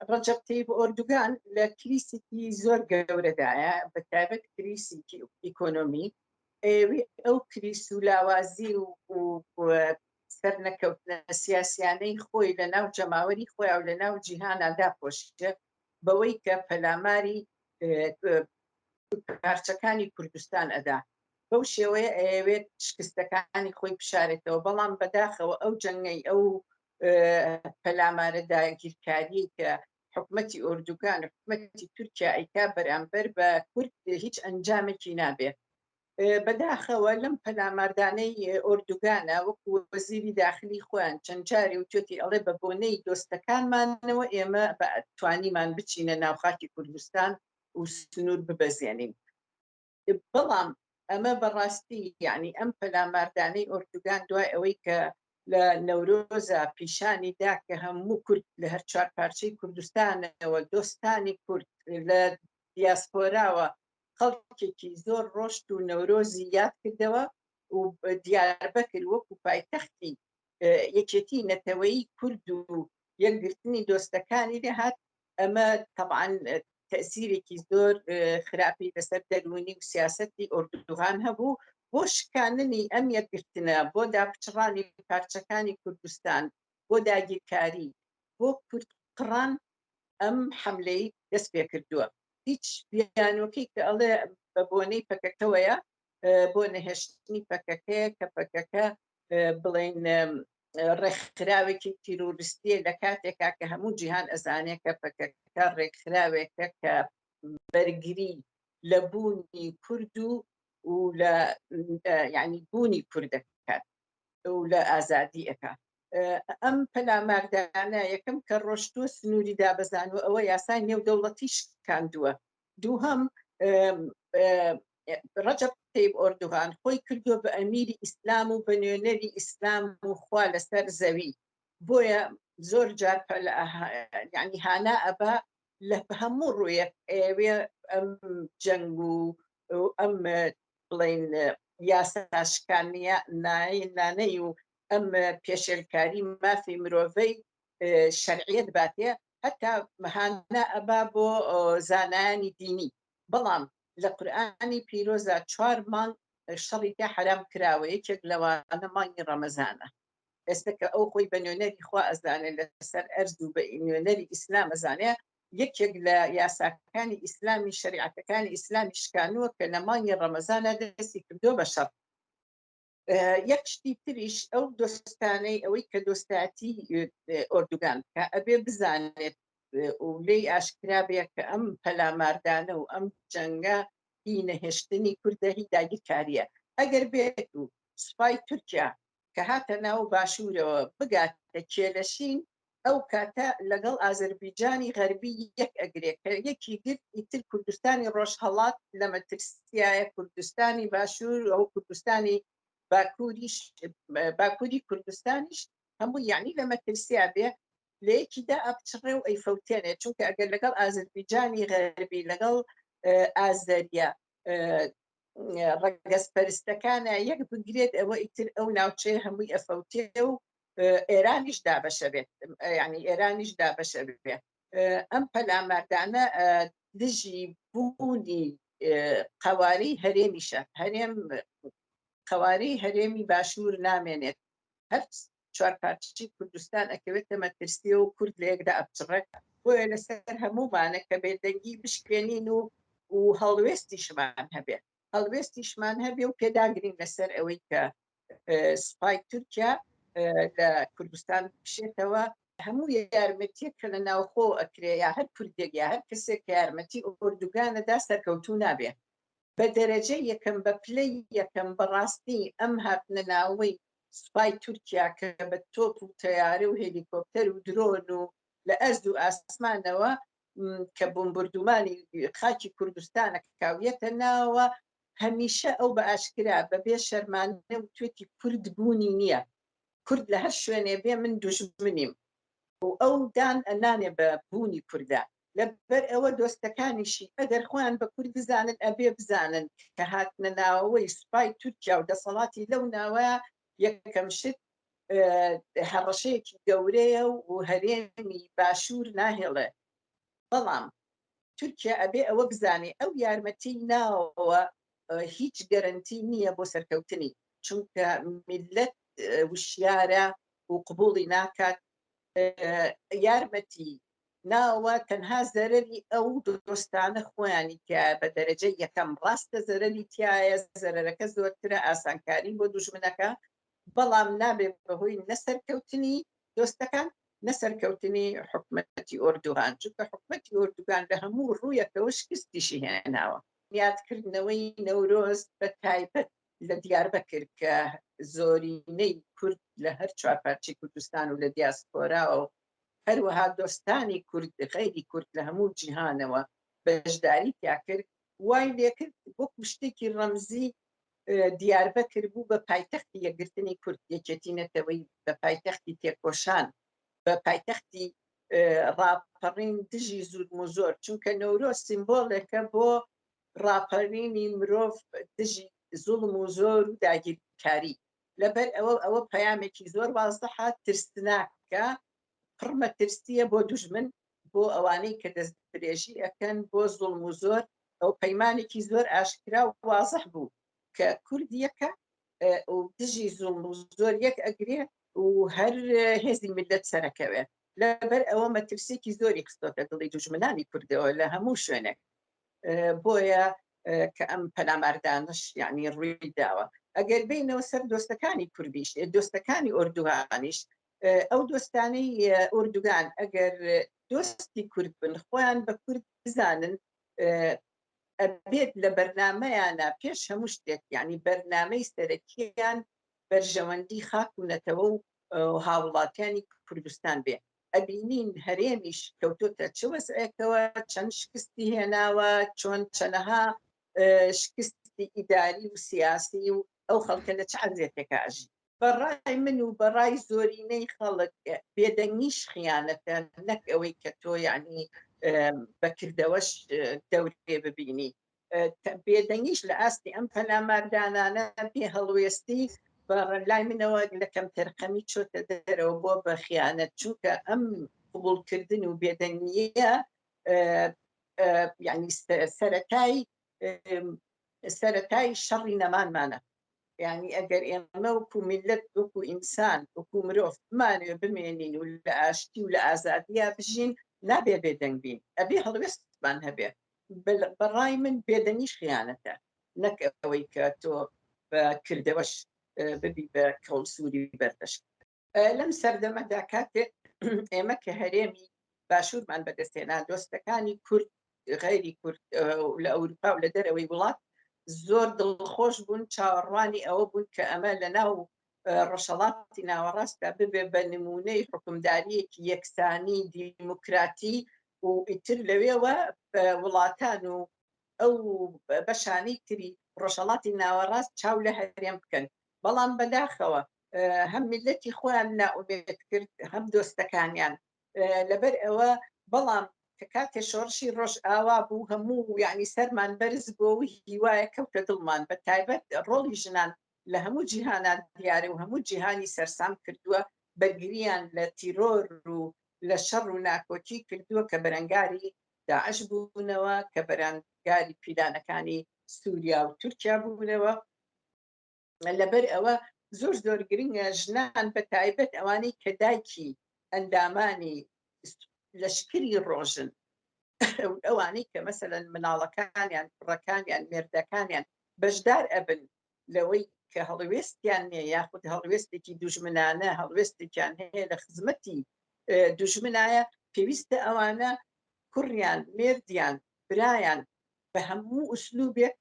ڕەجەب تەیب ئۆردوگان لە کریسێکی زۆر گەورەدایە بە تایبەت کریسی ئیکۆنۆمی ئێوی ئەو کریس و لاوازی و سەر نەکەوتنە سیاسیانەی خۆی لە ناو جەماوەری خۆی و لە ناو جیهانا داپۆشتە بەوەی کە پەلاماری پارچەکانی کوردستان ئەدا بەو شێوەیە ئەوێت شکستەکانی خۆی بشارێتەوە بەڵام بەداخەوە ئەو جەنگەی ئەو پەلامارە داگیرکاریەی کە حکومەتی ئۆردوگان و حکومەتی تورکیا ئەیکا بەرامبەر بە کورد هیچ ئەنجامێکی نابێ بەداخەوە لەم پەلاماردانەی ئۆردوگانە وەکو وەزیری داخلی خۆیان چەند جاری وتێتی ئەڵێ بە بۆنەی دۆستەکانمانەوە ئێمە توانیمان بچینە ناوخاکی کوردستان و سنوور ببەزێنین بەڵام ئەمە بەڕاستی یەعنی ئەم پەلاماردانەی ئۆردوگان دوای ئەوەی کە لە نەورۆزا پیشانی دا کە هەموو کورد لە هەر چوار پارچەی کوردستانەوە دۆستانی کورد لە دیاسپۆراوە خەڵکێکی زۆر ڕۆشت و نەورۆزی یاد کردەوە و دیاربەکر وەکو پایتەختی یەکێتی نەتەوەیی کورد و یەکگرتنی دۆستەکانی لێهات ئەمە تەبعەن تەئسیرێکی زۆر خراپی لەسەر دەروونی و سیاسەتی ئۆردوغان هەبوو بۆ شکاننی ئەم یەکگرتنە بۆ داپچڕانی پارچەکانی کوردستان بۆ داگیرکاری بۆ کورد قڕان ئەم حەملەی دەست پێ کردووە هیچ بیانۆکەی کە ئەڵێ بە بۆنەی پەکەکەوەیە بۆ نەهێشتنی پەکەکەیە کە پەکەکە بڵێن ڕێکخراوێکی تیرۆریستیە لە کاتێکا کە هەموو جیهان ئەزانێت کە پەکەکە ڕێکخراوێکە کە بەرگری لە بوونی کورد و و لە یعنی بوونی کوردەکات و لە ئازادی ئەکا ئەم پەلاماردانە یەکەم کە ڕۆشتوە سنووری دابزان و ئەوە یاسای نێو دەوڵەتی شکاندووە دووهم ڕەجەب تەیب ئۆردوغان خۆی کردوە بە ئەمیری ئیسلام و بە نوێنەری ئیسلام و خوا لەسەر زەوی بۆیە زۆر جار ینی هانا ئەبا لە هەموو ڕوویەک ئەوێ ئەم جەنگ و ئەم بڵین یاساشکانە نانەی و ئەم پێشێلکاری مافی مرۆڤەی شەرعیت باتێ هەتا مەهانە ئەبا بۆ زانایانی دینی بەڵام لە قورئانی پیرۆزا چوار مانگ شەڕی تیا حەرام کراوە یەکێک لەوانە مانگی ڕەمەزانە ئێستا کە ئەو خۆی بە نوێنەری خوا ئەزانێ لەسەر ئەرز و بە نوێنەری ئیسلام ئەزانێ یەکێک لە یاساکانی ئیسلامی شەریعەتەکانی ئیسلامی شکانووە کە لە مانگی ڕەمەزانە دەستی کردووە بە شەڕ یەک شتی تریش ئەو دۆستانەی ئەوەی کە دۆستاتی ئۆردوگان کە ئەبێ بزانێت و لێی ئاشکرا بێ کە ئەم پەلاماردانە و ئەم جەنگە هی نەهێشتنی کوردە هی داگیرکاریە ئەگەر بێت و سوپای تورکیا کە هاتە ناو باشوورەوە بگاتە کێلەشین ئەو کاتە لەگەڵ ئازەربیجانی غەربی یەک ئەگرێ کە یەکی گرت ئیتر کوردستانی ڕۆژهەڵات لە مەترسیایە کوردستانی باشوور ئەو کوردستانی باکووریش باکووری کوردستانیش هەموو یعنی لە مەترسیا بێ لە یەکیدا ئەپچڕێ و ئەیفەوتێنێ چونکە ئەگەر لەگەڵ ئازەربیجانی غەربی لەگەڵ ئازەریە ڕگەزپەرستەکانە یەک بگرێت ئەوە ئیتر ئەو ناوچەیە هەمووی ئەفەوتێ و ئێرانیش دابەشە بێت ینی ئێرانیش دابەشە بێت ئەم پەلاماردانە دژی بوونی قواری هەرێمیشە هەرێم قواری هەرێمی باشوور نامێنێت هەر چوار پارچی کوردستان ئەکەوێتە مەترسی و کورد لەیەکدا ئەپچڕەکە بۆیە لەسەر هەموومانە کە بێدەنگی بشکێنین و و هەڵوێستی شمان هەبێت هەڵوێستیشمان هەبێ و پێداگرین لەسەر ئەوەی کە سوپای تورکیا لە کوردستان بشێتەوە هەموو یارمەتیە کە لە ناوخۆ ئەکرێ یا هەر کوردێک یا هەر کەسێک کە یارمەتی ئۆردوگانەدا سەرکەوتوو نابێ بە دەرەجە یەکەم بە پلەی یەکەم بەڕاستی ئەم هاتنە ناوەی سوپای تورکیا کە بە تۆپ و تەیارە و هێلیکۆپتەر و درۆن و لە ئەرز و ئاسمانەوە کە بمبردومانی خاچی کوردستانە کاویەتە ناوە هەمیشە ئەو بە ئاشکرا بە بێ شەرمان توێتی کورد بوونی نییە کورد لە هەر شوێنێ بێ من دوژمنیم و ئەو دان ئەنانێ بە بوونی کووردا لەبەر ئەوە دۆستەکانیشی ئەگەر خۆیان بە کورد بزانن ئەبێ بزانن کە هاتنە ناوەوەی سوپای تورکیا و دەسەڵاتی لەو ناوە یەکەم شت هەڕەشەیەکی گەورەیە و هەرێمی باشوور ناهێڵێ بەڵام تورکیا ئەبێ ئەوە بزانێ ئەو یارمەتی ناوەوە هیچ گەرنتی نییە بۆ سەرکەوتنی چونکە میلەت وشیارە و قبولی ناکات یارمەتی ناوە تەنها زەرری ئەو دۆستانە خۆیانی تیا بە دەرەجە یەکەم ڕاستە زەرری تایە زەرەکە زۆرترە ئاسانکاری بۆ دوژمنەکە بەڵام نابێت بەهۆی نە سەرکەوتنی دۆستەکان نە سەرکەوتنی حکومەتی ئۆردوغان، چونکە حکومەتی ئۆردوگان لە هەموو ڕوویەکەوە شکستیشی هێناوە. یادکردنەوەی نەورۆز بە تایبەت لە دیاربەکر کە زۆرینەی کورد لە هەر چوار پارچەی کوردستان و لە دیاسپۆرا و هەروەها دۆستانی کورد غەیری کورد لە هەموو جیهانەوە بەشداری تیا کرد، وای لێکرد وەکو شتێکی ڕەمزی دیاربەکر بوو بە پایتەختی یەکگرتنی کورد، یەکێتی نەتەوەیی بوو بە پایتەختی تێکۆشان، بە پایتەختی ڕاپەڕین دژی زورموزۆر، چونکە نەورۆز سیمبۆلێکە بۆ ڕاپەرینی مرۆڤ دژی زوڵم و زۆر و داگیرکاری، لەبەر ئەوە ئەوە پەیامێکی زۆر وازحە، ترسناکە، پڕ مەترسییە بۆ دوژمن، بۆ ئەوانەی کە دەست درێژی ئەکەن بۆ زوڵم و زۆر ئەو پەیمانێکی زۆر ئاشکرا و وازح بوو کە کورد یەکە و دژی زوڵم و زۆر یەک ئەگرێ و هەر هێزی ملت سەرەکەوێ لەبەر ئەوە مەترسێکی زۆری خستۆتە دڵی دوژمنانی کوردەوە لە هەموو شوێنێک بۆیە کە ئەم پەلاماردانش یعنی ڕووی داوە ئەگەر بینەوە سەر دۆستەکانی کوردیش دۆستەکانی ئۆردوهانیش ئەو دۆستانەی ئۆردوگان ئەگەر دۆستی کورد بن خۆیان بە کورد بزانن ئەبێت لە بەرنمەیانە پێش هەموو شتێک یعنی بەرنمەی سەرەکیان بەرژەوەندی خاک و نەتەوە و هاوڵاتیانی کوردستان بێ ئەبینین هەرێمیش کەوتۆتە چ وەسعێکەوە چەند شکستی هێناوە چۆن چەنەها شکستی ئیداری و سیاسی و ئەو خەڵکە لە چ عزیێتێکە ئەژی بە ڕای من و بە ڕای زۆرینەی خەڵک بێدەنگیش خیانەتە نەک ئەوەی کە تۆ یعنی بەکردەوەش دەورێ ببینی بێدەنگیش لە ئاستی ئەم پەلاماردانانە پێ هەڵوێستی لای منەوە لە کەم تەرقەمی چۆتە دەرەوە بۆ بە خیانەت چووکە ئەم قوبولکردن و بێدەنگیە یعنی سەرەتای سەرەتای شەڕی نەمانمانە یعنی ئەگەر ئێمە وکو میلت وکو ئینسان وکو مرۆڤ بمانوێ بمێنین و لە ئاشتی و لە ئازادیا بژین نابێ بێدەنگ بین ئەبێ هەڵوێستمان هەبێ بەڕای من بێدەنگیش خیانەتە نەک ئەوەی کە تۆ بە کردەوەش ببی بە کەڵسووری بەردەشت لەم سەردەمەدا کاتێک ئێمە کە هەرێمی باشوورمان بەدەستێنا دۆستەکانی کورد غیری کورد لە ئەوروپا و لە دەرەوەی وڵات زۆر دڵخۆش بوون چاوەڕوانی ئەوە بوون کە ئەمە لە ناو ڕەشەڵاتی ناوەڕاستدا ببێ بە نمونەی حکومداریەکی یەکسانی دیموکراتی و ئیتر لەوێوە وڵاتان و ئەو بەشانەی تری ڕۆژەڵاتی ناوەڕاست چاو لە هەرێم بکەن بەڵام بەداخەوە هەم میلەتی خۆیان نائومێد کرد هەم دۆستەکانیان لەبەر ئەوە بەڵام کە کاتێ شۆڕشی ڕۆژ ئاوا بوو هەموو یعنی سەرمان بەرز بۆ و هیوایە کەوتە دڵمان بە تایبەت ڕۆڵی ژنان لە هەموو جیهانان دیارە و هەموو جیهانی سەرسام کردووە بەرگریان لە تیرۆر و لە شەڕ و ناکۆکی کردووە کە بەرەنگاری داعش بوونەوە کە بەرانگاری پیلانەکانی سووریا و تورکیا بوونەوە لەبەر ئەوە زۆر زۆر گرنگە ژنان بە تایبەت ئەوانەی کە دایکی ئەندامانی لەشکری ڕۆژن ئەوانەی کە مەسەن مناڵەکانیان کوڕەکانیان مێردەکانیان بەشدار ئەبن لەوەی کە هەڵوێستیان نیە یاخود هەڵوێستێکی دوژمنانە هەڵوێستێکیان هەیە لە خزمەتی دوژمنایە پێویستە ئەوانە کوڕیان مێردیان برایان بە هەموو ئوسلوبێک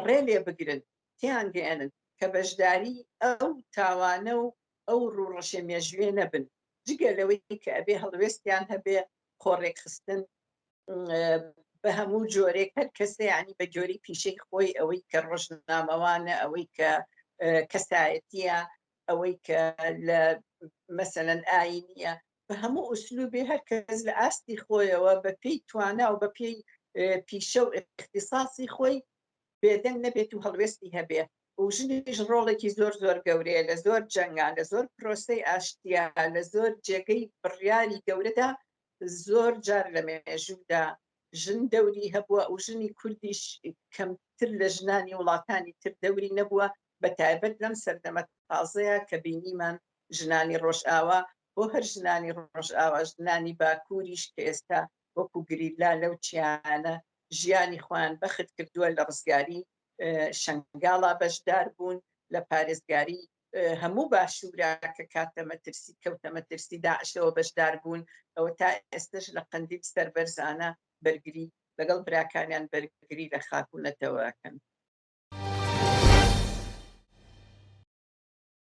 ڕێ لێ بگرن تێیانگەیەنن کە بەشداری ئەو تاوانە و ئەو ڕووڕەشە مێژوویە نەبن، جگە لەوەی کە ئەبێ هەڵوێستیان هەبێ، خۆڕێکخستن بە هەموو جۆرێک، هەر کەسێ یانی بە گۆری پیشەی خۆی، ئەوەی کە ڕۆژنامەوانە، ئەوەی کە کەسایەتییە، ئەوەی کە لە مەسەلەن ئایینییە، بە هەموو ئوسلووبێ هەر کەس لە ئاستی خۆیەوە بە پێی توانا و بە پێی پیشە و ئیختیساسی خۆی بێدەنگ نەبێت و هەڵوێستی هەبێ و ژنیش ڕۆڵێکی زۆر زۆر گەورەیە لە زۆر جەنگان لە زۆر پرۆسەی ئاشتیا لە زۆر جێگەی بڕیاری گەورەدا زۆر جار لە مێژوودا ژن دەوری هەبووە و ژنی کوردیش کەمتر لە ژنانی وڵاتانی تر دەوری نەبووە بە تایبەت لەم سەردەمە تازەیە کە بینیمان ژنانی ڕۆژئاوا بۆ هەر ژنانی ڕۆژئاوا ژنانی باکووریش کە ئێستا وەکو گریلا لەو چیایانە ژیانی خۆیان بەخت کردووە لە ڕزگاری شەنگاڵا بەشدار بوون لە پارێزگاری هەموو باشورا کە کاتە مەترسی کەوتە مەترسی داعشەوە بەشدار بوون ئەوە تا ئێستش لە قەندیل سەربەرزانە بەرگری لەگەڵ براکانیان بەرگری لە خاک و نەتەوەکەن.